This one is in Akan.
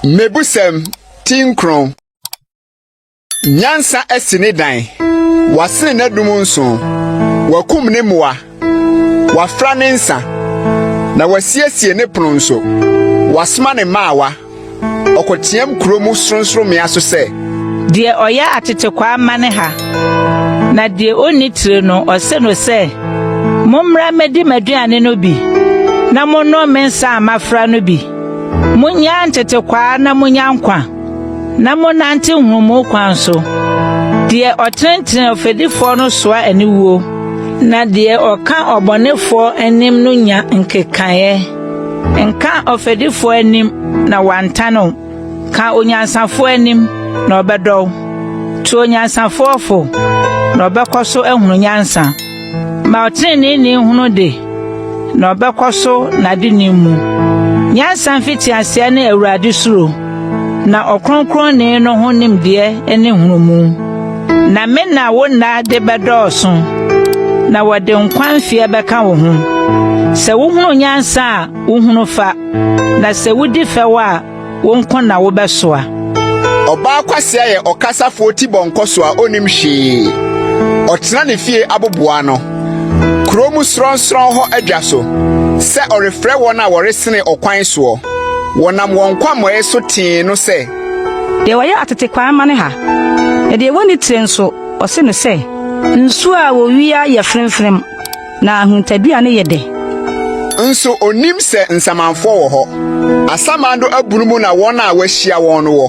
Mmebusɛm ti nkron. Nyansa asi ne dan, wasene n'adum nson, wakum ne mmoa, wafra ne nsa, na wasiesie ne pono nso, wasoma ne mmaawa. Ɔkɔteam kuro mu sorɔnsorɔmmea so sɛ. Deɛ ɔyɛ atetekwaa ma ne ha, na deɛ ɔnni tire no, ɔse no sɛ, Mommra mmɛdi m'aduane no bi, na monnom me nsa a mafra no bi. Monyɛ ntetekwaa na monya nkwa, na monnante nhunumu kwan so. Deɛ ɔtenetene ɔfɛdifoɔ no soa aniwuo, na deɛ ɔka ɔbɔnefoɔ anim no nya nkekaeɛ. Nka ɔfɛdifoɔ anim na wantan wo, ka onyansafoɔ anim na ɔbɛdɔ wo. To onyansafoɔ fo, na ɔbɛkɔ so ahunu nyansa. Ma ɔteneneeni hunu de, na ɔbɛkɔ so n'adenim mu. Nyansa mfitiaseɛ ne Awurade suro. Na Ɔkronkronni no ho nimdeɛ ne nhunumu. Na me na wo nna de bɛdɔɔso, na wɔde nkwa mfeɛ bɛka wo ho. Sɛ wohunu nyansa a, wohunu fa, na sɛ wodi fɛw a, wo nko na wobɛsoa. Ɔbaa kwasea yɛ ɔkasafoɔ tibɔnkɔso a ɔnnim hwee. Ɔtena ne fie aboboa ano, kuro mu sorɔnsorɔn hɔ adwa so, sɛ ɔrefrɛ wɔn a wɔresene ɔkwan soɔ. Wɔnam wɔn nkwammɔɛ so tee no sɛ. Deɛ ɔyɛ atete kwan ma no ha, na deɛ wɔnni tire nso, ɔse no sɛ. Nsuo a wɔwia yɛ fremfrem, na ahuntadua no yɛ dɛ. Nso ɔnnim sɛ nsamanfoɔ wɔ hɔ. Asamando abunu mu na wɔn a wɔahyia wɔn no wɔ.